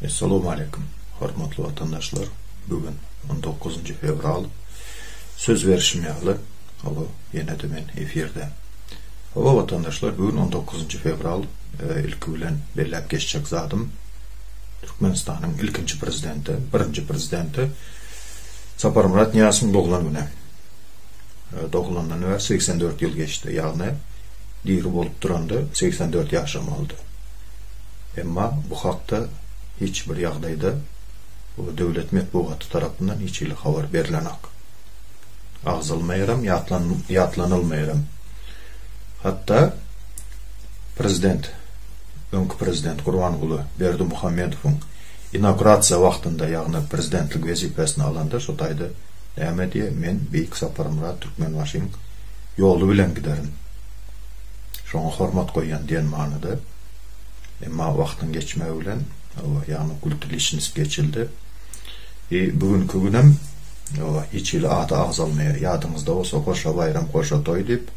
Assalamu aleykum, hormatly watandaşlar. Bu gün 19 fewral. Söz berişim ýaly, hawa, ýene-de men efirde. Hawa, watandaşlar, bu gün 19 fewral. E, ilki bilen belläp geçjek zadym, Türkmenistanyň ilkinji prezidenti, birinji prezidenti Saparmyrat Nyýazowyň doglan güni. E, doglandan bäri 84 ýyl geçdi, ýagny diri bolup duranda 84 ýaşamalydy. Emma bu hakda hiç bir ýagdaýda döwlet metbugaty tarapyndan hiç hili habar berlenok. Agzalmaýaram, ýatlanylmaýaram. Hatda prezident, öňki prezident Gurbanguly Berdimuhamedowyň inaugurasiýa wagtynda, ýagny prezidentlik wezipesini alanda şo taýda näme diýýär, Men Beýik Saparmyrat Türkmenbaşyň ýoly bilen giderin. Şoňa hormat goýýan diýen manyda. Emma wagtyň geçmegi bilen oba ýagny gultiliçnis geçildi. E, bu günki günem oba hiç hili ady agzalmaýar. Ýadyňyzda bolsa goşa baýram, goşa toý diýip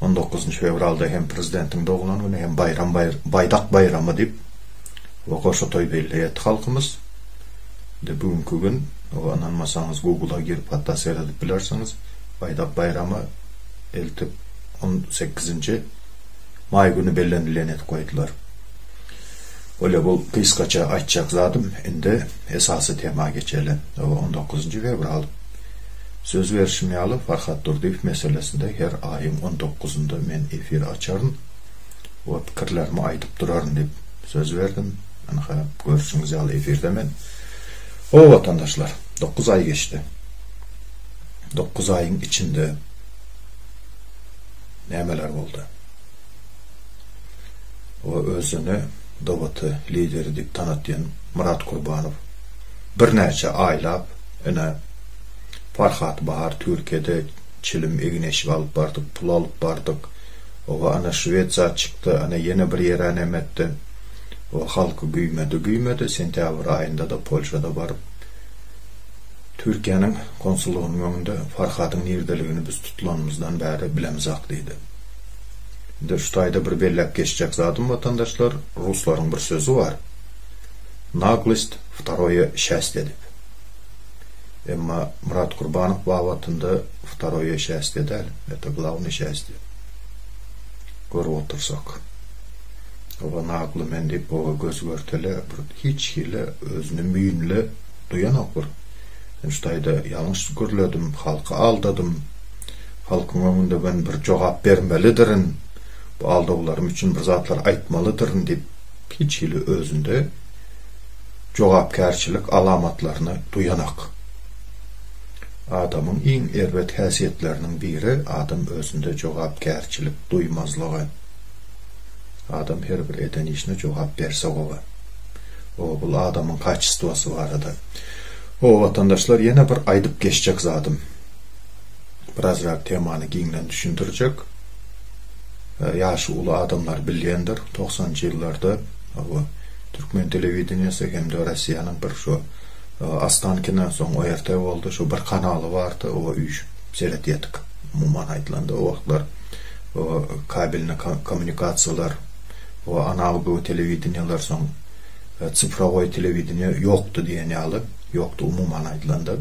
19-njy fewralda hem prezidentiň doglan güni hem baýram baýdak baýramy diýip we goşa toý belleýärdi halkymyz. Indi bu günki gün oba ynanmasaňyz Google-a girip hatda seredip bilersiňiz. Baýdak baýramy eltip 18-nji Maý güni bellenilýän edip goýdular. Bolýa bu gysgaça aýtjak zadym. Indi esasy tema geçeli. Oba on dokuzynjy fewral. Söz berşim ýaly Farhad Durdyýew meselesinde her aýyň on dokuzynda men efir açaryn we pikirlerimi aýdyp duraryn diýip söz berdim. Ynha görşüňiz ýaly efirde men. Hoo watandaşlar dokuz aý geçdi. Dokuz aýyň içinde. nämeler boldy? O özüni DBT lideri diýip tanatýan Myrat Kurbanow birnäçe aýlap ine Farhat Bahar Türkiýede çilim egin-eşik alyp bardyk, pul alyp bardyk, oba ana şwed zat çykdy, ana ýene bir ýere näme etdi, o halky güýmedi, güýmedi, sentýabr aýynda-da Polşada baryp Türkiýäniň konsullygynyň öňünde Farhadyň nirdeligini biz tutulanymyzdan bäri bilemizok diýdi. Indi şu taýda bir belläp geçjek zadym watandaşlar, ruslaryň bir sözi bar, Naglost wtaroýe şäsdye diýip. Emma Murat Kurbanow babatynda wtaroýe şäsdye däl, eta glawny şäsdye. Görüp otursak. Oba nagly men diýip oba göz görtele bir hiç hili özüni müýnli duýanok bir. Şu taýda ýalňyş gürledim, halky aldadym. Halkyň öňünde men bir jogap bermelidirin, bu aldawlarym üçin bir zatlar aýtmalydyryn diýip, hiç hili özünde jogapkärçilik alamatlaryny duýanak. Adamyň iň erbet häsiýetleriniň biri, adam özünde jogapkärçilik duýmazlygy. Adam her bir eden işine jogap berse gowy. Oba bul adamyň kaçestwasy barada. Hoo watandaşlar ýene bir aýdyp geçjek zadym. Birazrak temany giňden düşündirjek. Ýaşy uly adamlar bilýändir, togsanjy ýyllarda bu türkmen telewideniýesi hem-de Rossiýanyň bir şu Ostankinden soň ORT boldy, şu bir kanaly bardy, oňa üýşüp seredýärdik. Umuman aýdylanda o wagtlar kabelni kommunikasiýalar, o analogowy telewideniýeler soň Sifrowy telewideniýe ýokdy diýen ýaly, ýokdy umuman aýdylanda.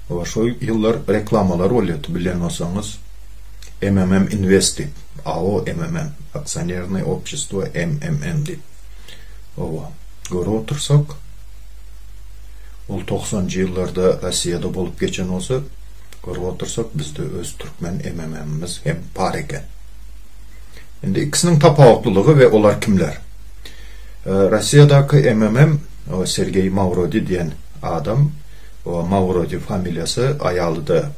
Şol ýyllar reklamalar bolýardy, bilen bolsaňyz, MMM Invest diýip, AO MMM, Aksionernaý Opçestwo MMM diýip. Oba, görüp otursak, ol togsanjy ýyllarda Rossiýada bolup geçen bolsa, görüp otursak, bizde öz türkmen MMM-miz hem bar eken. Indi ikisiniň tapawutlylygy we olar kimler? Rossiýadaky MMM Sergeý Mawrodi diýen adam, Mawrodi familiýasy, aýaly-da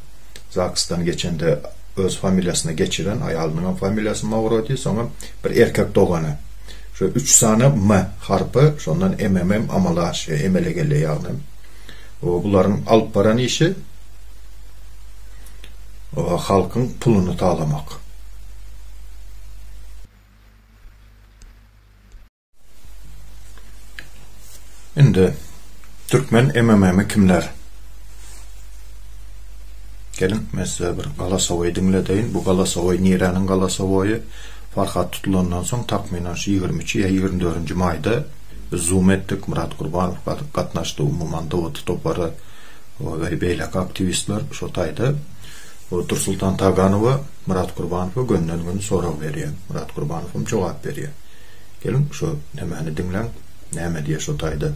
ZAGS-dan geçende öz familiýasyna geçiren, aýalynyň hem familiýasy Mawrodi, soňam bir erkek dogany. Şu üç sany M harpy, şondan MMM amala aşýar, emele gelýär ýagny. Bularyň alyp baran işi halkyň puluny talamak. Indi türkmen MMM-i kimler? Gelin, men size bir galasowoý diňledeýin. Bu galasowoý niräniň galasowoýy? Farhat tutulandan soň takmynan şu 23 ýa 24-nji maýda biz zoom etdik. Myrat Gurbanow gatnaşdy, umuman Dawut topary we beýleki aktiwistler şo taýda. Dursultan Taganowa Myrat Gurbanowa gönden-gün sorag berýän. Myrat Gurbanowam jogap berýär. Geliň, şo nämäni diňläň, näme diýýär şo taýda.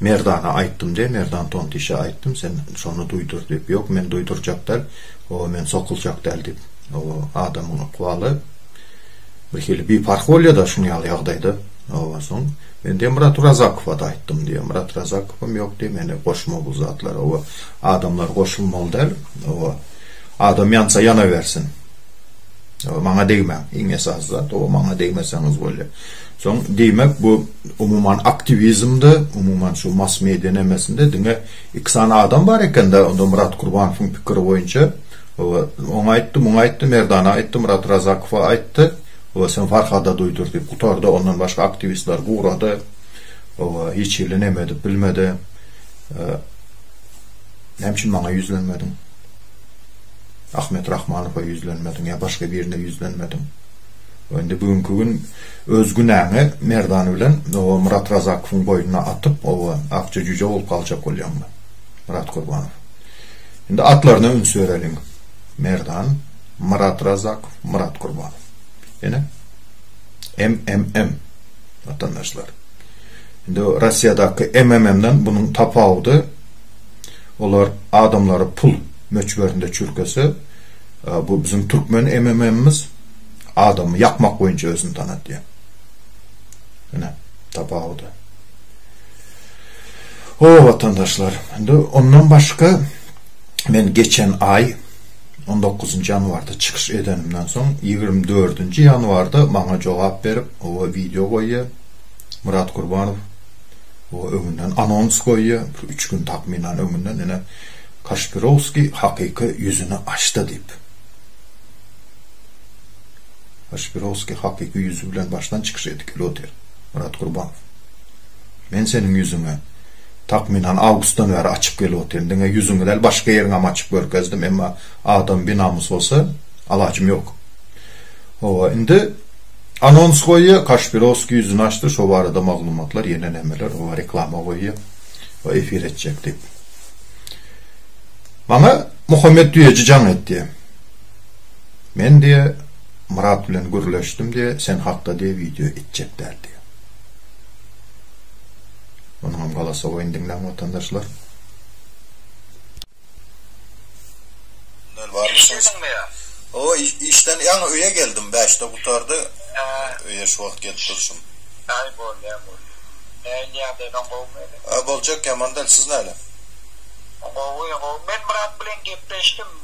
Merdana aýtdym de, Merdan tontişe aýtdym, sen şony duýdur diýip. Ýok, men duýdurjak däl, oba men sokuljak däl diýip. Oba adamyň ykbaly bir hili biparh bolýa-da şuň ýaly ýagdaýda. Oba soň men diýen Myrat Orazakowa-da aýtdym diýýä. Myrat Razakowam ýok diýýä, meni goşma bu zatlara. Oba adamlar goşulmaly däl. Oba adam ýansa ýanabersin. Oba maňa degmäň. Iň esasy zat, oba maňa degmeseňiz bolýa. Soň, diýmek, bu umuman aktiwizmde, umuman şu mass-media nemesinde diňe iki sany adam bar eken-dä, onda Myrat Kurbanowyň pikiri boýunça, hawa, oňa aýtdy, muňa aýtdy, Merdana aýtdy, Myrat Razakowa aýtdy, hawa, sen Farhada duýdur diýip gutardy, ondan başga aktiwistler gurady, hawa, hiç hili neme edip bilmedi. Näme üçin maňa ýüzlenmediň? Ahmet Rahmanowa ýüzlenmediň ýa başga birine ýüzlenmediň? Indi bu günki gün Öz günäňi Merdan bilen o Myrat Razakowyň boýnuna atyp, oba akja jüje bolup galjak bolýaňmy? Myrat Gurbanow. Indi atlaryna üns bereliň. Merdan, Myrat Razakow, Myrat Gurbanow. Ýene? MMM. Watandaşlar. Indi Russiýadaky MMM-den bunuň tapawudy olar adamlary pul möçberinde çürkese, bu biziň türkmen MMM-miz Adamy ýakmak boýunça özüni tanatýar. Ine, tapawudy. Ho, watandaşlar, indi ondan başga men geçen aý 19-njy ýanwarda çykyş edenimden soň 24-nji ýanwarda maňa jogap berip, oba wideo goýýar. Myrat Gurbanow oba öňünden anons goýýar, bir üç gün takmynan öňünden ine Kaşpirowskiý hakyky ýüzüni açdy diýip. Aşpirowskiý hakyky ýüzi bilen başdan çykyş etdi, Lýuter. Myrat Gurbanow. Men seniň ýüzüňi, takmynan, awgustdan bäri açyp gelip otyryn. Diňe ýüzüňi däl, başga ýeriňem açyp görkezdim. Emma adam binamys bolsa, alajym ýok. Hawa, indi anons goýýa, Kaşpirowskiý ýüzüni açdy, şo barada maglumatlar, ýene nämeler, hawa, reklama goýýa, we efir etjek diýip. Maňa Muhammet Düýeji jaň etdi. Men diýe Myrat bilen gürleşdim diýe sen hakda diýe wideo etjek däl diýe. Munyňam galasowyny diňläň watandaşlar. Owa işden ýaňy öýe geldim bäşde gutardy öýe şu wagt gelip durşum. Aý bolýa bolýa. Näin ýagdaýlaň gowumy indi? Boljak ýaman däl siz näle? Gowy gowy men Myrat bilen gepleşdim.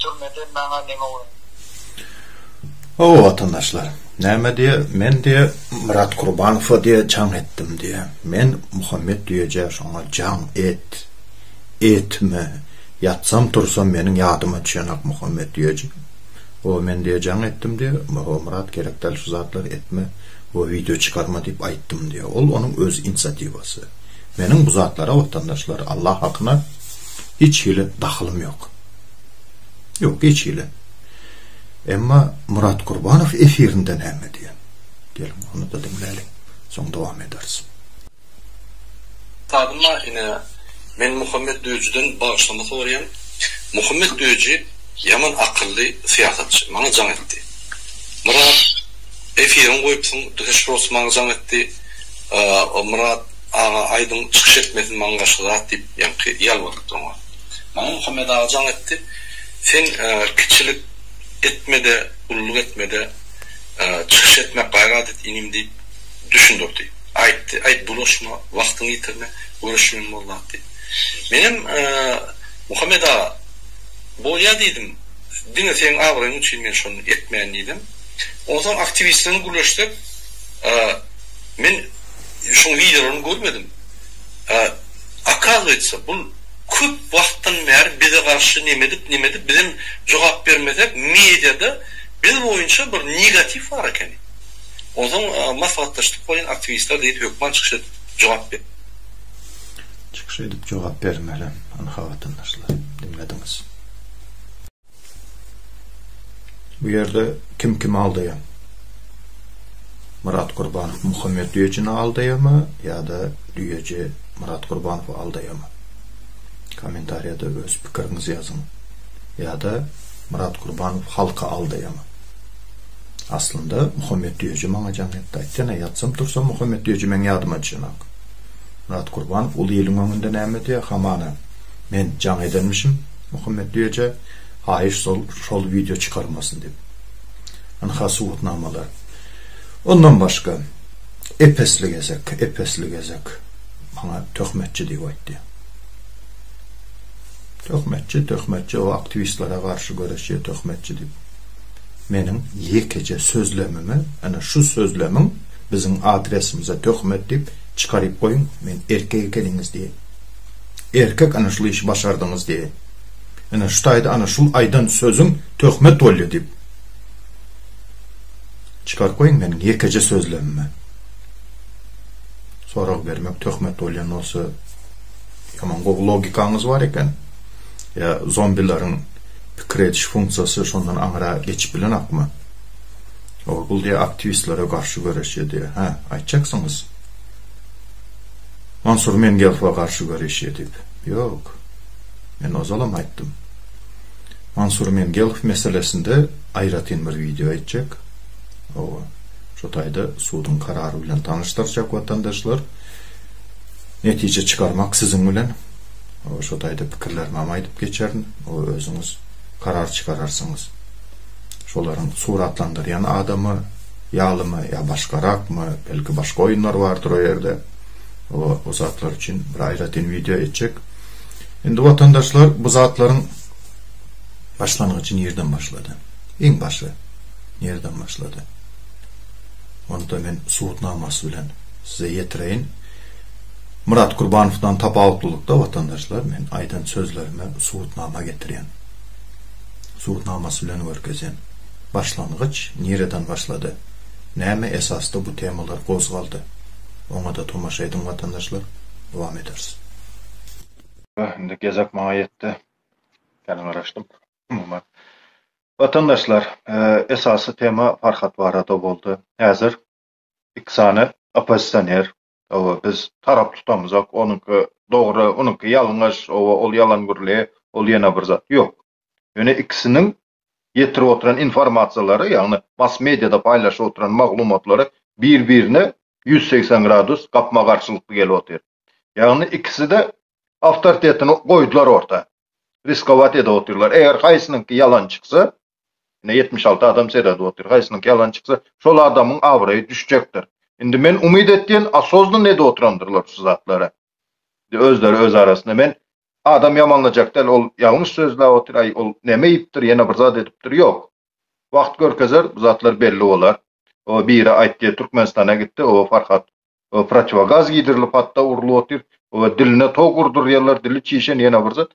Türmeden maňa neme oýun. Hawa watandaşlar, näme diýe, men diýe Myrat Kurbanowa diýe jaň etdim diýe. Men Muhammet Düýeje şoňa jaň et, etme, ýatsam tursam meniň ýadyma düşenok Muhammet Düýeje. Hawa men diýe jaň etdim diýe, hawa Myrat gerek däl şu zatlary etme, hawa wideo çykarma diýip aýtdym diýe. Ol onuň öz inisiatiwasy. Meniň bu zatlara watandaşlar Allah hakyna hiç hili dahylym ýok. Ýok, geçeli. Emma Murat Gurbanow efirinde näme diýen? Geliň, ony-da diňläliň. Soň dowam ederis. Sadyma ine men Muhammet Döjiden bagyşlama soraýan. Muhammet Döji ýaman akylly syýasatçy. Maňa jaň etdi. Myrat efiriňi goýupsyň dühe şurasy maňa jaň etdi. Myrat aga aýdyň çykyş etmesin maňa garşy zat diýip ýaňky ýalbarypdyr oňa. Maňa Muhammet aga jaň etdi, Sen kiçilik etme-de, ululyk etme-de, çykyş etmek gaýrat et, inim diýip düşündirdi. Aýtdy, Aý, bulaşma, wagtyňy ýitirme, görüşmeli bolýas diýip. Menem, Muhammet aga, bolýa diýdim, diňe seniň abraýyň üçin men şony etmeýän diýdim. Onsoň aktiwistlerden gürleşsek, men şoň wideolaryny görmedim. Okazuýetsa, bul. köp wagtdan bäri bize garşy nemedip nemedip bizem jogap bermesek mediada biz boýunça bir negatiw bar ekeni onsoň maslahatlaşdyk bolýyn aktiwistler diýip hökman çykyş edip jogap ber. Çykyş edip jogap bermeli ynha watandaşlar diňlediňiz. Bu ýerde kim kimi aldaýar? Myrat Gurbanow Muhammet Düýejini aldaýarmy ýa-da Düýeji Myrat Gurbanowy aldaýarmy? Kommentariýada öz pikiriňizi ýazyň. Ýa-da Myrat Gurbanow halky aldaýarmy? Aslynda Muhammet Düýeji maňa jaň ýatdy. Aýtsana, ýatsam-tursam Muhammet Düýeji meň ýadyma düşenok. Myrat Gurbanow uly iliň öňünde näme diýýär? Hamana, men jaň edenmişim. Muhammetli eje haýyş sol şol wideo çykarmasyn diýip. Ynha subutnamalar. Ondan başga Epesli gezek, Epesli gezek maňa töhmetçi diýip aýtdy. Töhmetçi, töhmetçi o aktiwistlere garşy göreşýär töhmetçi diýip. Meniň ýekeje sözlemimi ana şu sözlemiň biziň adresimize töhmet diýip çykaryp goýuň men erkek ekeniňiz diýeýin. Erkek ana şul işi başardyňyz diýe. Ine şu taýda ana şul aýdan sözüň töhmet bolýa diýip. Çykaryp goýuň meniň ýekeje sözlemimi. Sorag bermek töhmet bolýan bolsa ýaman gowy logikaňyz bar eken. Ýa zombileriň pikir ediş funksiýasy şondan aňyra geçip bilenokmy? Ol bul diýe aktiwistlere garşy göreşýär diýe. Hä, aýtjaksyňyz. Mansur Mengefowa garşy göreş edip, ýok. Men ozalam aýtdym. Mansur Mengefow meselesinde aýratyn bir wideo etjek. Hawa, şu taýda suduň karary bilen tanyşdyrjak watandaşlar. Netije çykarmak siziň bilen. Hawa, şu taýda pikirlerimem aýdyp geçerin. Hawa, özüňiz karar çykararsyňyz. Şolaryň suratlandyrýan adamy ýalymy ýa başgarakmy, belki başga oýunlar bardyr o ýerde. O zatlar üçin bir aýratyn wideo etjek. Indi watandaşlar bu zatlaryň başlangyjy nirden başlady? Iň başy nirden başlady? Onda men subutnamasy bilen size ýetireýin. Murat Gurbanowdan tapawutlylykda watandaşlar men aýdan sözlerime subutnama getirýän. Subutnamasy bilen görkezýän. Başlangyç nireden başlady? Näme esasda bu temalar gozgaldy? Oňada tomaşa ediň watandaşlar, dowam ederis. Ýa indi gezek maňa ýetdi. Kän garaşdym. Umuman watandaşlar esasy tema Farhat barada boldy. Häzir iki sany oppozisioner Oba biz tarap tutamzok onuňky dogry onuňky ýalňyş oba ol ýalan gürlä ol ýene bir zat ýok ýöne ikisiniň ýetirip oturan informasiýalary ýagny mass mediada paýlaşyp oturan maglumatlary bir birine ýüz segsen gradus gapma garşylykly gelip otyr ýagny ikiside awtoritetini goýdular orta riskowat edip otyrlar eger haýsynyňky ýalan çyksa Ine, ýetmiş alty adam seredip otyr. Haýsynyňky ýalan çyksa, şol adamyň abraýy düşjekdir. Indi men umyt etýän, osoznan edip oturandyrlar şu zatlary. Indi özleri öz arasynda men Adam ýamanlajak däl, ol ýalňyş sözläp otyr, aý, ol näme iýipdir, ýene bir zat edipdir, ýok. Wagt görkezer, bu zatlar belli bolar. Oba biri aýtdy, Türkmenistana gitdi, oba Farhat we protiwogaz giýdirilip, hatda urlup otyr we diline tok urdurýarlar, dili çişen ýene bir zat.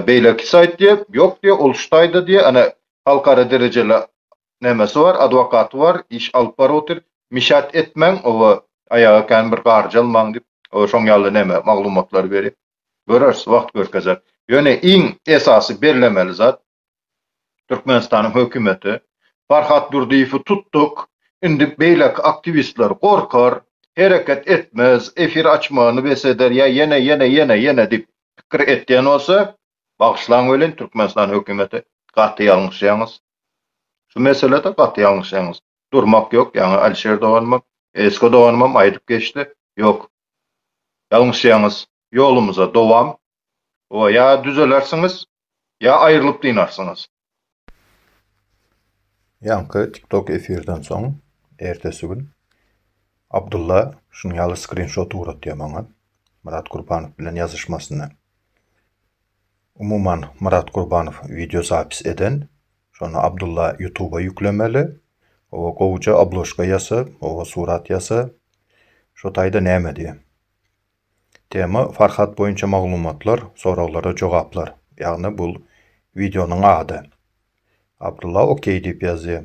Beýleki saýt diýýär, ýok diýýär, ol şu taýda diýýär, ene, halkara derejeli nämesi bar, adwokaty bar, iş alyp baryp otyr, mişat etmäň we aýaga kän bir garjy almaň diýip, şoň ýaly neme, maglumatlary berýär. Göreris, wagt görkezer. Ýöne iň esasy bellemeli zat, Türkmenistanyň hökümeti Farhat Durdyýewi tutduk, indi beýleki aktiwistler gorkar, hereket etmez, efir açmagyny bes eder ýa ýene, ýene, ýene, ýene diýip pikir etýän bolsa, bagyşlaň welin, Türkmenistan hökümeti gaty ýalňyşýaňyz. Şu meselede gaty ýalňyşýaňyz. Durmak ýok, ýaňy Alişer doganymam, Esko doganymam aýdyp geçdi. Ýok. Ýalňyşýaňyz. ýolumyza dowam we ýa düzelersiňiz ýa aýrylyp dynarsyňyz. Ýaňky TikTok efirden soň ertesi gün Abdulla şunuň ýaly skrinşot ugratýar maňa Myrat Gurbanow bilen ýazyşmasyny. Umuman Myrat Gurbanow wideo zapis eden, şony Abdulla ýutuba ýüklemeli, oba gowuja obložka ýasa, oba surat ýasa, şo taýda näme diýýär. Tema, Farhat boýunça maglumatlar, soraglara jogaplar. Ýagny bul wideonyň ady. Abdulla ok diýip ýazýa.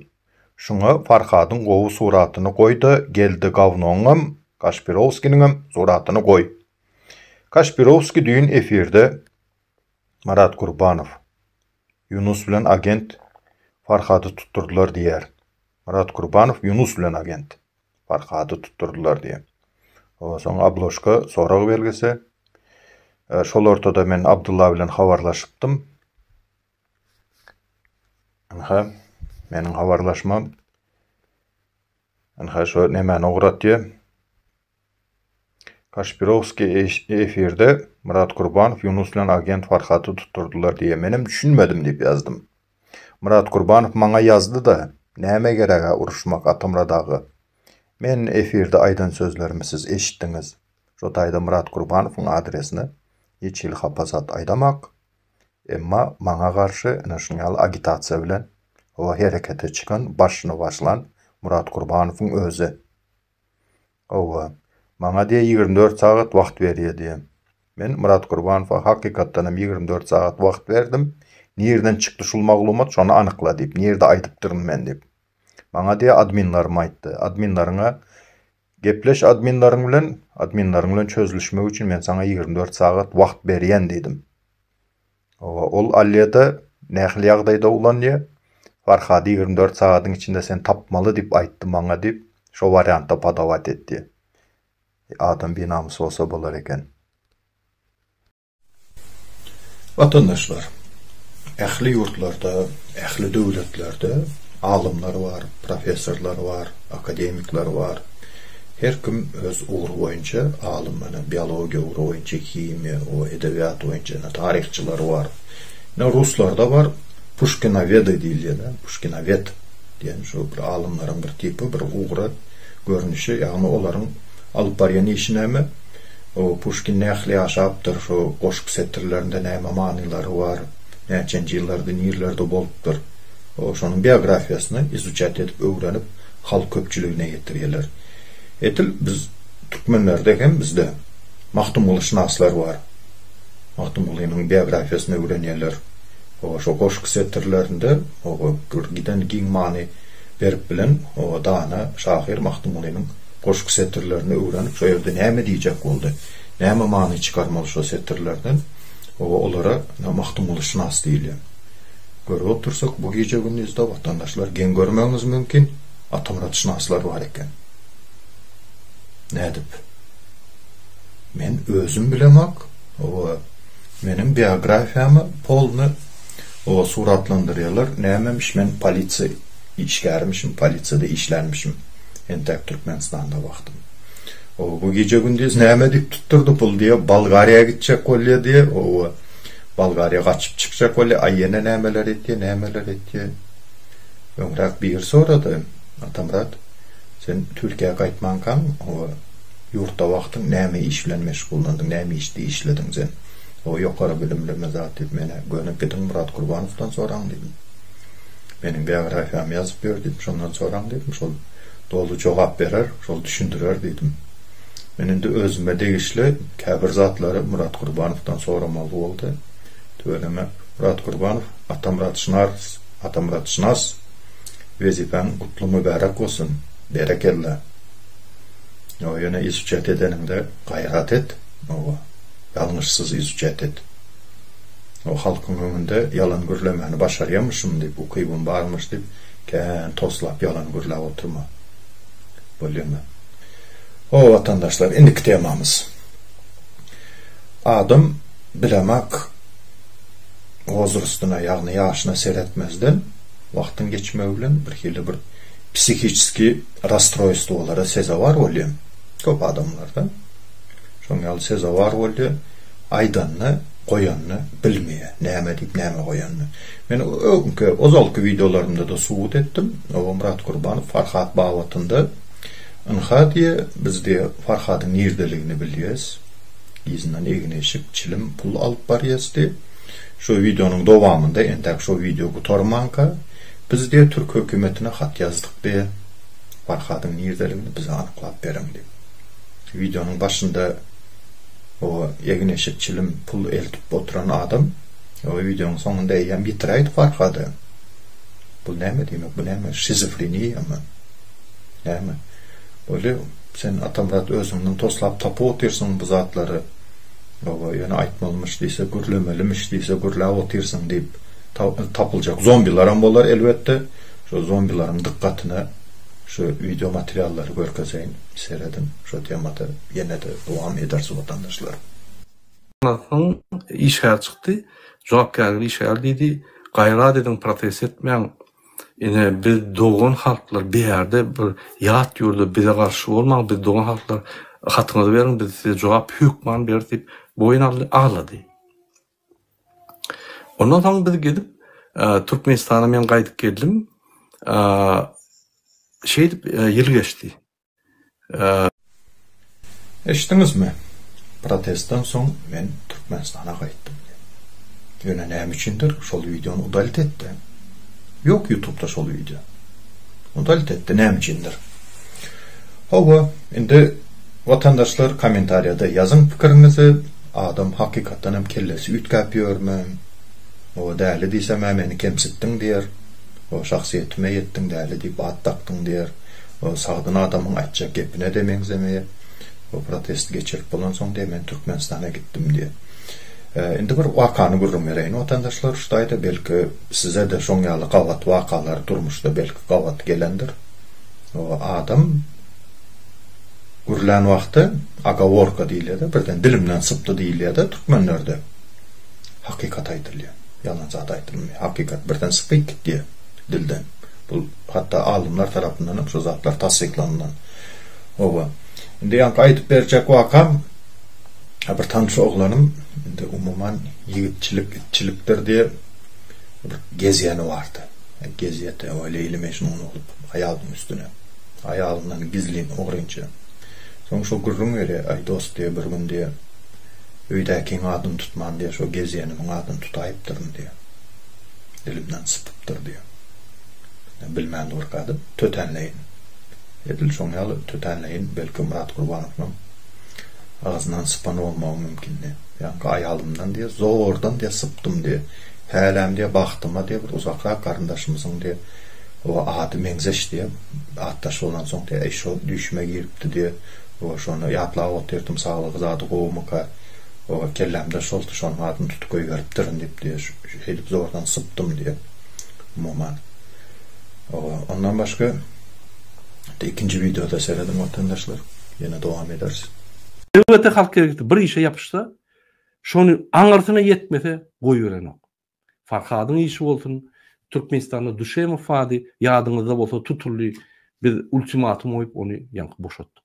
Şuňa Farhadyň gowy suratyny goýda Geldi gawnoňam, Kaşpirowskiniňem suratyny goý. Kaşpirowski düýn efirde Marat Gurbanow, Ýunus bilen agent Farhady tutdurdylar diýýär. Marat Gurbanow, Ýunus bilen agent. Farhady tutdurdylar diýen. Onsoň Abloşka sorag belgisi. E, şol ortada men Abdulla bilen habarlaşypdym. Ynha, meniň habarlaşmam. Ynha, şo nemäni ugratýar. Kaşpirowskiý efirde Myrat Gurbanow Ýunus bilen agent Farhaty tutdurdylar diýýär. Menem düşünmedim diýip ýazdym. Myrat Gurbanow maňa ýazdy-da, Näme gereg-ä uruşmak Atamyrat aga? Men efirde aýdan sözlerimi siz eşitdiňiz. Şo taýda Myrat Gurbanowyň adresine hiç hili hapa zat aýdamak, emma maňa garşy ine şunýaly agitasiýa bilen hawa herekete çykan, başyny başlan Myrat Gurbanowyň özi. Hawa, maňa diýe ýigrimi dört sagat wagt berýä diýe. Men Myrat Gurbanowa hakykatdan hem ýigrimi dört sagat wagt berdim. Nirden çykdy şul maglumat şony anykla diýip, nirde aýdypdyryn men diýip. Maňa diýe adminlarim aýtdy. Adminleriňe gepleş adminleriň bilen, adminleriň bilen çözülişmek üçin men saňa ýigrimi dört sagat wagt berýän diýdim. Hawa, ol Alýada nähili ýagdaýda ulanýa? Farhady ýigrimi dört sagadyň içinde sen tapmaly diýip aýtdy maňa diýip, şo wariantda padawat etýä. E, adam binamys bolsa bolar eken. Watandaşlar, ähli ýurtlarda, ähli döwletlerde alymlar bar, professorlar bar, akademikler bar. Her kim öz ugry boýunça alym ene biologiýa ugry boýunça himiýa o edebiýat boýunça ene taryhçylary bar. Ene ruslarda bar puşkinowedy diýilýäne puşkinowed diýen şu bir alymlaryň bir tipy bir ugra görnüşi ýagny olaryň alyp barýan işi näme o puşkin nähli ýaşapdyr şu goşgy setirlerinde näme manylary bar näçenji ýyllarda nirlerde bolupdyr o şonuň biografiýasyny izuçat edip öwrenip halk köpçüligine ýetirýärler. Edil biz türkmenlerde hem bizde Magtymgulyşynaslar bar. Magtymgulynyň biografiýasyny öwrenýärler. Hawa, şo goşgy setirlerinde oba bir giden giň many berip bilen oba dana şahyr Magtymgulynyň goşgy setirlerini öwrenip şo ýerde näme diýjek boldy, näme many çykarmaly şo setirlerden, oba olara Magtymgulyşynas diýilýär. Görüp otursak, bu gije-gündizde watandaşlar geň görmegiňiz mümkin, atamyratşynaslar bar eken. Nädip? Men özüm bilemok, oba, meniň biografiýamy polny oba suratlandyrýarlar, nämemiş men polisiýa işgärimişim, polisiýada işlänmişim entäk Türkmenistanda wagtym. Oba, bu gije-gündiz näme diýip tutdurdy pul diýýär, Bolgariýa gitjek bolýar diýýär, oba. Bolgariýa gaçyp çykjak bolýa aý ýene nämeler etýä nämeler etýä öňräk biri sorady Atamyrat sen Türkiýä gaýtmankaň oba ýurtda wagtyň näme iş bilen meşgullandyň näme işdi işlediň sen oba ýokary bilimlimi zat diýip menä göni gidiň Murat Gurbanowdan soraň diýdim meniň biografiýamy ýazyp ýör diýdim şondan soraň diýdim şol doly jogap berer şol düşündirer diýdim. Men indi özüme degişli käbir zatlary Murat Gurbanowdan soramaly boldy. Tüweleme, Murat Gurbanow, Atamyrat Şynas, Atamyrat Şynas, wezipäň gutly mübärek bolsun! Berekella! Ýa ýöne izuçat edeniňde gaýrat et, hawa, ýalňyşsyz izuçat et. Hawa, halkyň öňünde ýalan gürlemäni başarýamyşym diýip, ukybym barmyş diýip, kän toslap ýalan gürläp oturma. Bolýamy? Hoo watandaşlar indiki temamyz Adam bilemak wozrostuna ýagny ýaşyna seretmezden wagtyň geçmegi bilen bir hili bir psihiçeskiý rastroýstwolara sezawar bolýa köp adamlarda şoň ýaly sezawar bolýa aýdanyny goýanyny bilmeýä näme diýip näme goýanyny men öňki ozalky wideolarymda-da subut etdim Obamyrat Gurbanow Farhat babatynda. Ynha diýe, biz diýe Farhadyň nirdeligini bilýäs. Yzyndan egin-eşik, çilim, pul alyp barýas diýe. Şu wideonyň dowamynda, entäk şu wideo gutarmanka, biz diýe türk hökümetine hat ýazdyk diýe, Farhadyň nirdeligini bize anyklap beriň diýip. Wideonyň başynda o egin-eşik, çilim, pul eltip oturan adam, o wideonyň soňunda eýýäm ýitiräýdi Farhady. Bu näme diýmek, bu näme, şizofreniýamy? Näme? Weli, sen Atamyrat özüňden toslap tapyp otyrsyň bu zatlary. Hawa, ýöne aýtmalymyş diýse, gürlemelimiş diýse, gürläp otyrsyň, diýip, tapyljak zombilaram bolar, elbetde. Şo zombilaryň dykgatyna şu wideo materiallary görkezeýin. Serediň, şo temada ýene-de dowam ederis, watandaşlar. Şondan soň işgär çykdy. Jogapkärli işgär diýdi, Gaýrat ediň, protest etmäň. Ine biz dogan halklar bir ýerde bir ýat ýurda bize garşy bolmaň biz dogan halklar hatyňyzy beriň biz size jogap hökman beris diýip boýun aldy aglady. Ondan soň biz gidip Türkmenistana men gaýdyp geldim. Şeýdip ýyl geçdi. Eşitdiňizmi? Protestden soň men Türkmenistana gaýtdym diýip. Ýöne näme üçindir şol wideony udalit etdi. Ýok ýutubda şol wideo. Udalit etdi näme üçindir. Hawa, indi watandaşlar kommentariýada ýazyň pikiriňizi, adam hakykatdan hem kellesi üýtgäp ýörmi? Hawa däli diýsem-ä meni kemsitdiň diýer. Hawa şahsyýetime ýetdiň däli diýip at dakdyň diýer. Ol sagdyn adamyň aýtjak gepine-de meňzemeýär. Bu protesti geçirip bolansoň diýýär, men Türkmenistana gitdim diýýär. Indi bir wakany gürrüň bereýin watandaşlar, şutaýda belki size-de şoň ýaly gabat wakalar durmuşda belki gabat gelendir. Adam gürlän wagty agaworka diýilýär-de, birden dilimden sypdy diýilýär-de türkmenlerde. Hakykat aýdylýar. Ýalan zat aýdylmaýar. Hakykat birden sypyp gitýär. dilden. Bu hatda alymlar tarapyndanam şu zatlar tassyklanylan. Oba. Indi ýaňky aýdyp berjek wakam bir tanyş oglanym indi umuman ýigitçilik itçilikdir diýip bir gezýäni bardy. Gezýete we Leýli Mejnun bolup aýalyň üstüne. Aýalyndan gizlin ogrynça. Soň şu gürrüň berýär, aý dost diýip bir gün diýip öýdäkiň adyny tutman diýip şu gezýänimiň adyny tutaýypdyryn diýip. Dilimden sypyp dur diýýär. Men bilmän durkadym, tötänleýin. Edil şoň ýaly tötänleýin, belki Myrat Gurbanowyňam agzyndan sypan bolmagym mümkin diýýär. Ýaňky aýalymdan diýýär, zordan diýýär sypdym diýýär. Häläm diýýär bagtyma diýýär, bir uzakrak garyndaşymyzyň diýýär, o ady meňzeş diýýär. Atdaş bolansoň diýýär, eý şo düýşüme giripdi diýýär. Oba şony ýatlap otyrdym, saglygy-zady gowumyka. Oba kellämde şoldy, şonuň adyny tutup goýberipdirin diýip diýýär. Şeýdip zordan sypdym, diýip, Moma. Ondan başga ikinji wideoda serediň watandaşlar, ýene dowam ederis. Elbetde halk erkek bir işe ýapyşsa, şony aňyrsyna ýetmese goýberenok. Farhadyň işi bolsun, Türkmenistanda Duşemow bady, ýadyňyzda bolsa tutuldy, biz ultimatum goýup ony ýaňky boşatdyk.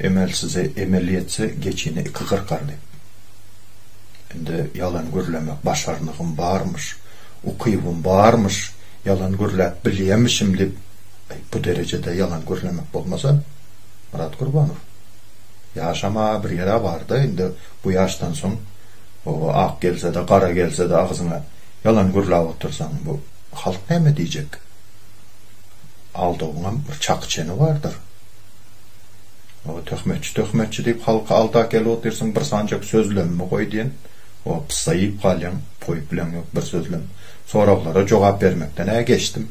Emel size emel ýetse geçini iki gyrkardy. Indi ýalan gürlemek başarnygym barmyş, ukybym barmyş, ýalan gürläp bilýämişim diýip eý bu derejede ýalan gürlemek bolmasa Myrat Gurbanow ýaşama bir ýere barda indi bu ýaşdan soň oba ak gelsede gara gelsede agzyňa ýalan gürläp otyrsaň bu halk näme diýjek aldawyňam bir çaky çeni bardyr. O töhmetçi töhmetçi diýip halky alda gelip otyrsyň bir sanjak sözlemimi goý diýen o pyssa iýip galýaň goýup bileň ýok bir sözlem soraglara jogap bermekden ä geçdim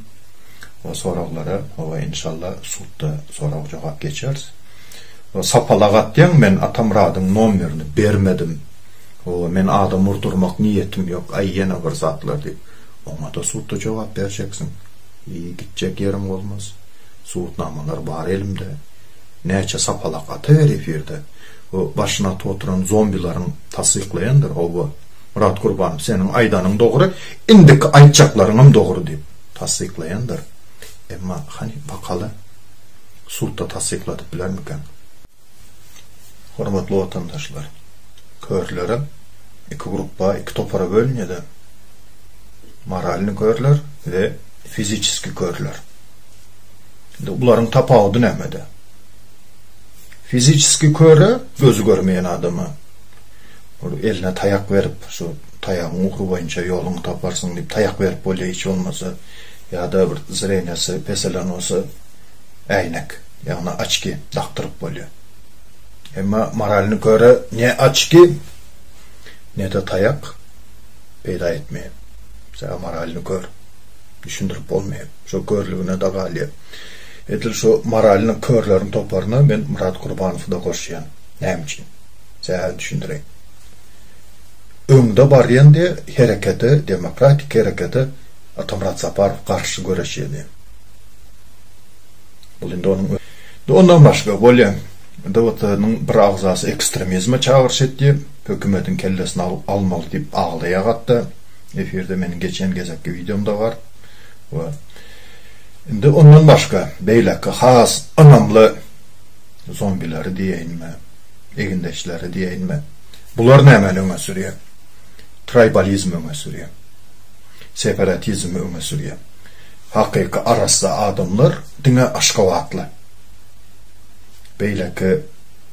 o soraglara howa inşalla sudda sorag jogap geçeris o sapalak atýaň men atamyradyň nomerini bermedim howa men adam urdurmak niýetim ýok aý ýene bir zatlar diýip oňada sudda jogap berjeksiň iý gitjek ýeriň bolmaz. Subutnamalar bar elimde. Näçe sapalak atawer efirde. Bu başyny atyp oturan zombilaryň tassyklaýandyr howwa. Myrat Gurbanow seniň aýdanyň dogry, indiki aýtjaklaryňam dogry diýip tassyklaýandyr. Emma hany bakaly sudda tassykladyp bilermikäň. Hormatly watandaşlar! Körlere iki grupba, iki topara bölünýäler, moralnyý körler we fiziçeski körler. Indi bularyň tapawudy nämede? Fiziçeski köre, gözi görmeýän adama bir eline taýak berip, şu taýagyň ugry boýunça ýoluňy taparsyň diýip taýak berip bolýar hiç bolmasa ýa-da bir zreniýasy peselen bolsa äýnek. ýagny oçki dakdyryp bolýar. Emma moralny köre ne oçki, ne-de taýak peýda etmeýär. Sebäbi moralny kör. Düşündirip bolmaýar. Şo körlügine-de galýar. Edil şu moralny körleriň toparyna men Myrat Gurbanowy-da goşýan. Näme üçin? Sebäbini düşündireýin. Öňde barýan diýe herekete, demokratik herekete Atamyrat Saparow garşy göreşýär diýen. Bu indi onuň özi. Ondan başga, bolýa, DWT-nyň bir agzasy ekstremizme çagyryş etdi, hökümetiň kellesini almaly diýip aglaýar hatda, efirde meniň geçen gezekki wideomda bar. We indi ondan başga, beýleki has ynamly zombileri diýeýinmi, egindeşleri diýeýinmi, bular nämäni öňe sürýär? Traýbalizmi öňe sürýär. Separatizmi öňe sürýär. Hakyky arassa adamlar diňe aşgabatly. Beýleki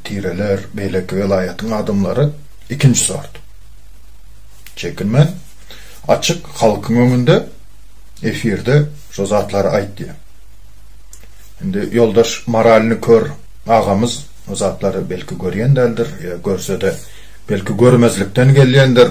tireler, beýleki welaýatyň adamlary ikinji sort. Çekinmän, açyk halkyň öňünde efirde şo zatlary aýt diýen. Indi ýoldaş moralny kör agamyz o zatlary belki görýän däldir, ýa görsede belki görmezlikden gelýändir.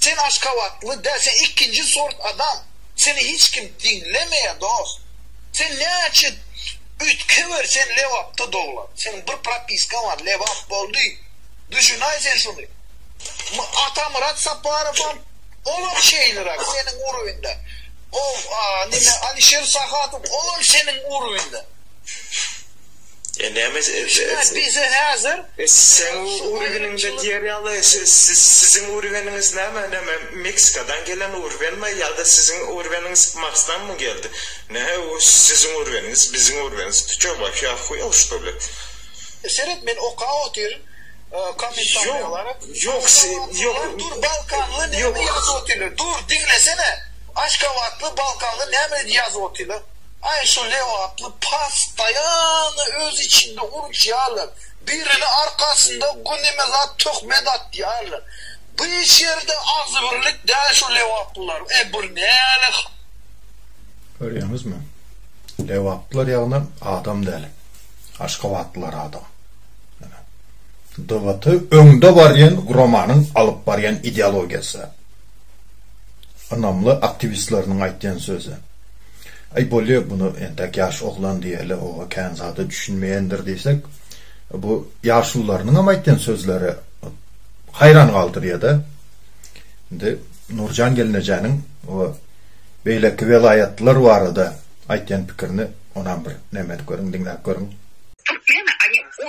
Sen aşgabatly däl sen ikinji sort adam seni hiç kim diňlemeýär dost sen näçe üýtgewer sen lebapda doglan seniň bir propiskaň bar lebap boldy düşünaý sen şuny Atamyrat Saparowam olam şeýleräk seniň urwinde o nime Alişer Sahatow olam seniň urwinde. Şuňa bize häzir Seň urgeniňde diýer ýaly Siziň urgeniňiz näme? Näme Meksikadan gelen urgenmi ýa-da siziň urgeniňiz Marsdanmy geldi? Nähe u siziň urgeniňiz biziň urgeniňiz Ty ço waş ýa huýaw şto li. Seret men okap otyryn kommentariýalary. Ýok ýok Dur balkanly näme ýazyp otyrlar dur diňlesene Aşgabatly balkanly näme ýazyp otyrlar. Aý şu lebaply pastaýano öz içinde uruşýarlar, birini arkasynda güneme zat töhmet atýarlar. Bu hiç ýerde agzybirlik däl şu lebaplylaryň. E bu näle hal? Görýäňizmi? Lebaplylar ýagny adam däl. Aşgabatlylar adam. Ýöne DBT öňde barýan guramanyň alyp barýan ideologiýasy. Ynamly aktiwistleriniň aýtýan sözi. Aý, bolýa, muny entäk ýaş oglan diýeli, oba kän zada düşünmeýändir diýsek, bu ýaşulularynyňam aýtýan sözleri haýran galdyrýa-da. Indi Nurjan gelnejäniň o beýleki welaýatlar barada aýtýan pikirini onam bir näme edip görüň, diňläp görüň. Türkmen, a ne, o,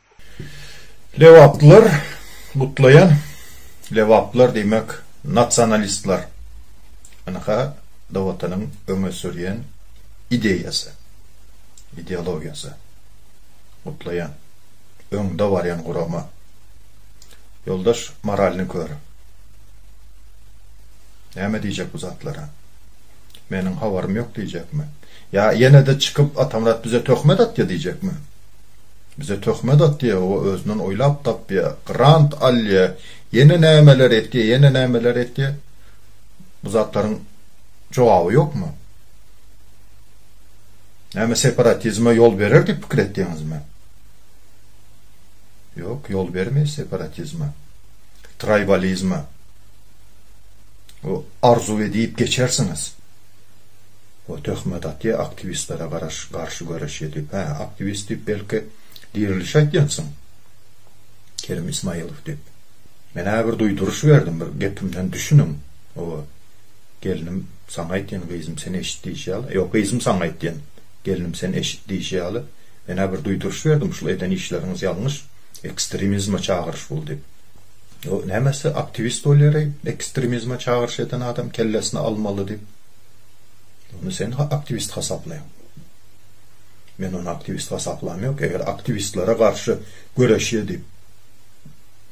Lebaplylar gutlaýan Lebaplylar diýmek nasionalistler ynha da watanyň öňe sürýän ideýasy ideologiýasy gutlaýan öňde barýan gurama ýoldaş moralny kör näme diýjek bu zatlara meniň habarym ýok diýjekmi ýa ýene de çykyp Atamyrat bize töhmet atýa diýjekmi. Bize töhmet atýa, o özünden oýlap tapýa, grant alýa, ýene nämeler etýä, ýene nämeler etýä. Bu zatlaryň jogaby ýokmy? Näme separatizme ýol berer diýip pikir etýäňizmi? Ýok, ýol bermeýär separatizme, traýbalizme. O arzuw edip geçersiňiz. O töhmet atýa aktiwistlere garaş garşy göreşýä diýip. Hä, aktiwist diýip belki Dirilişi aýtýansyň? Kerim Ismaýylow diýip. Men-ä bir duýduryş berdim, bir gepimden düşüniň. Oba. Gelnim saňa aýtýan, gyzym sen eşit diýşi ýaly. Ýok, gyzym saňa aýtýan, gelnim sen eşit diýşi ýaly. Men-ä bir duýduryş berdim, şul eden işleriňiz ýalňyş, ekstremizme çagyryş bul diýip. O nämesi aktiwist bolýar-eý, ekstremizme çagyryş eden adam kellesini almaly diýip. Ony sen aktiwist hasaplaýaň. Men ony aktiwist hasaplam ýok. Eger aktiwistlere garşy göreşýä diýip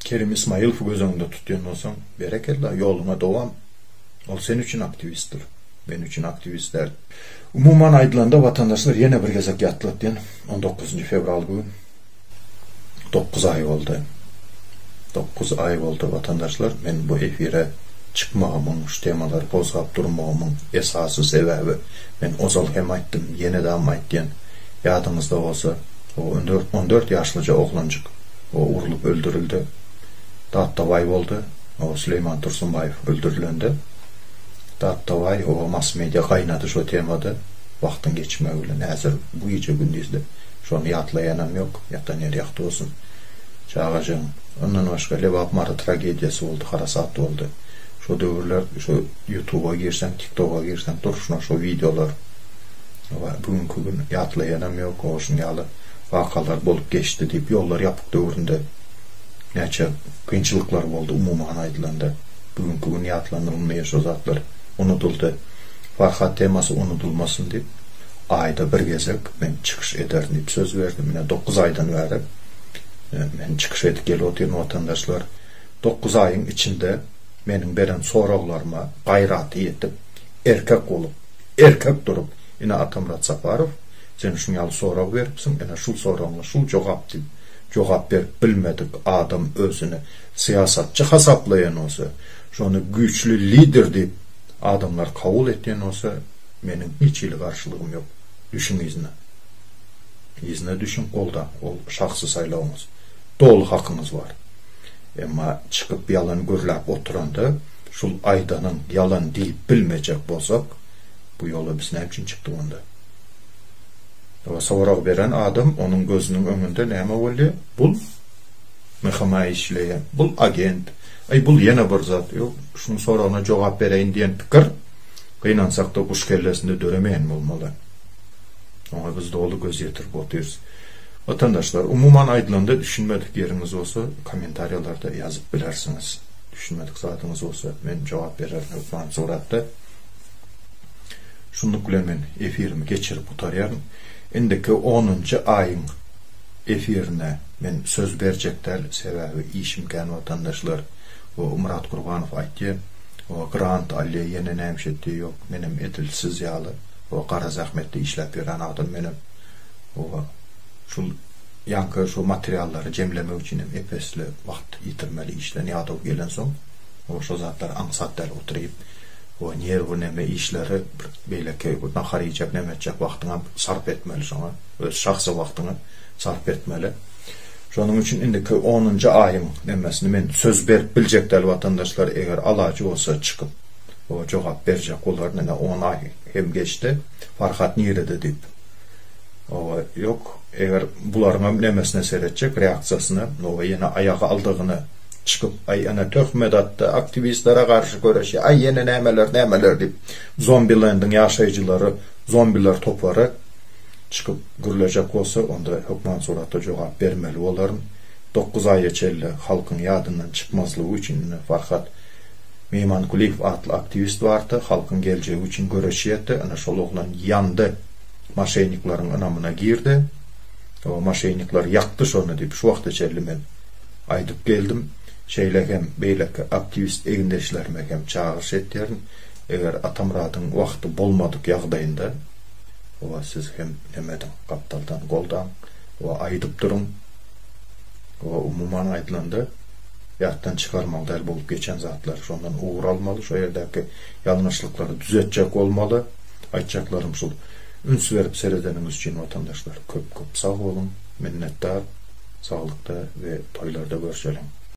Kerim Ismaýylowy göz öňünde tutýan bolsaň, berekella, ýoluňa dowam. Ol sen üçin aktiwistdir. Men üçin aktiwist däl. Umuman aýdylanda, watandaşlar ýene bir gezek ýatlatýan, on dokuzynjy fewral bu gün. Dokuz aý boldy. Dokuz aý boldy watandaşlar men bu efire çykmagymyň şu temalary gozgap durmagymyň esasy sebäbi men ozal hem aýtdym ýenedam aýtýan ýadyňyzda bolsa o on dört on dört ýaşlyja oglanjyk o urlup öldürildi Datdabaý boldy o Süleýman Tursunbaýew öldürilende Datdabaý o mass media gaýnady şo temada wagtyň geçmegi bilen häzir bu gije gündizde Şony ýatlaýanam ýok, ýatan ýeri ýagty bolsun. Çagajygyň. Ondan başga Lebap Mary tragediýasy boldy, harasat boldy. Şo döwürler şu ýutuba girseň, tiktoga girseň durşuna şo wideolar bar. Bu günki gün ýatlaýanam ýok, o şun ýaly wakalar bolup geçdi diýip, ýollar ýapyk döwründe näçe kynçylyklar boldy umuman aýdylanda. Bu günki gün ýatlanylmýar şo zatlar. Unudyldy. Farhat temasy unudylmasyn diýip. aýda bir gezek men çykyş ederin diýip söz berdim. Ine dokuz aýdan bäri men çykyş edip gelip otyryn watandaşlar. Dokuz aýyň içinde meniň beren soraglaryma gaýraty ýetip, erkek bolup, erkek durup, ine Atamyrat Saparow, sen şuň ýaly sorag beripsiň, ine şul soragyňa şul jogap diýip, jogap berip bilmedik adam özüni syýasatçy hasaplaýan bolsa, şony güýçli lider diýip adamlar kabul etýän bolsa, Meniň hiç hili garşylygym ýok. Düşüň yzyna. Yzyna düşüň, goldaň, ol şahsy saýlawyňyz. Doly hakyňyz bar. Emma çykyp ýalan gürläp oturanda, şul aýdanyň ýalan diýip bilmejek bolsak, bu ýola biz näme üçin çykdyk onda? Oba sorag beren adam onuň gözüniň öňünde näme bolýar? Bul MHM-a işleýän, bul agent, aý bul ýene bir zat, ýok, şunuň soragyna jogap bereýin diýen pikir. Gynansakda guş kellesinde döremeýän bolmaly. Oňa biz doly göz ýetirip otyrys. Watandaşlar, umuman aýdylanda düşünmedik ýeriňiz bolsa kommentariýalarda ýazyp bilersiňiz. Düşünmedik zadyňyz bolsa men jogap bererin hökmany suratda. Şunluk bilen men efirimi geçirip gutarýaryn. Indiki onunjy aýyň efirine men söz berjek däl, sebäbi işim kän watandaşlar. Bu Myrat Gurbanow aýtýar. Oňa grant alýa ýene näme şetdi ýok menem edil siz ýaly o gara zähmetde işläp ýören adam menem oňa şul ýaňky şo materiallary jemlemek üçin hem epesli wagt ýitirmeli işden ýadaw gelensoň oňa şo zatlar aňsat däl oturyp o nerwy neme işleri bir beýleki nahar iýjek neme etjek wagtyňam sarp etmeli şoňa öz şahsy wagtyňy sarp etmeli. Şonuň üçin indiki onunjy aýyň nemmesini men söz berip biljek däl watandaşlar eger alajy bolsa çykyp jogap berjek bolaryn ine on aý hem geçdi Farhat nirede diýip oba ýok eger bularyňam nemesine seretjek reaksiýasyna oba ýene aýaga aldygyny çykyp aý ene töhmet atdy aktiwistlere garşy göreşýär aý ýene nämeler nämeler diýip zombilendiň ýaşaýjylary zombiler topary Çykyp gürlejek bolsa, onda hökman suratda jogap bermeli bolaryn. Dokuz aýa çenli halkyň ýadyndan çykmazlygy üçin ine Farhat Meýmankuliýew atly aktiwist bardy, halkyň geljegi üçin göreşýärdi, ine şol oglan ýandy, maşennikleriň ynamyna girdi, o maşennikler ýakdy şony diýip şu wagta çenli men aýdyp geldim. Şeýle hem beýleki aktiwist egindeşlerime hem çagyryş etýärin, eger Atamyradyň wagty bolmadyk ýagdaýynda, Wa siz hem neme ediň gapdaldan goldaň wa aýdyp duruň wa umuman aýdylanda ýatdan çykarmaly däl bolup geçen zatlar şondan ugur almaly şo ýerdäki ýalňyşlyklary düzetjek bolmaly aýtjaklarym şul üns berip seredeniňiz üçin watandaşlar köp köp sag boluň minnetdar saglykda we toýlarda görşeliň.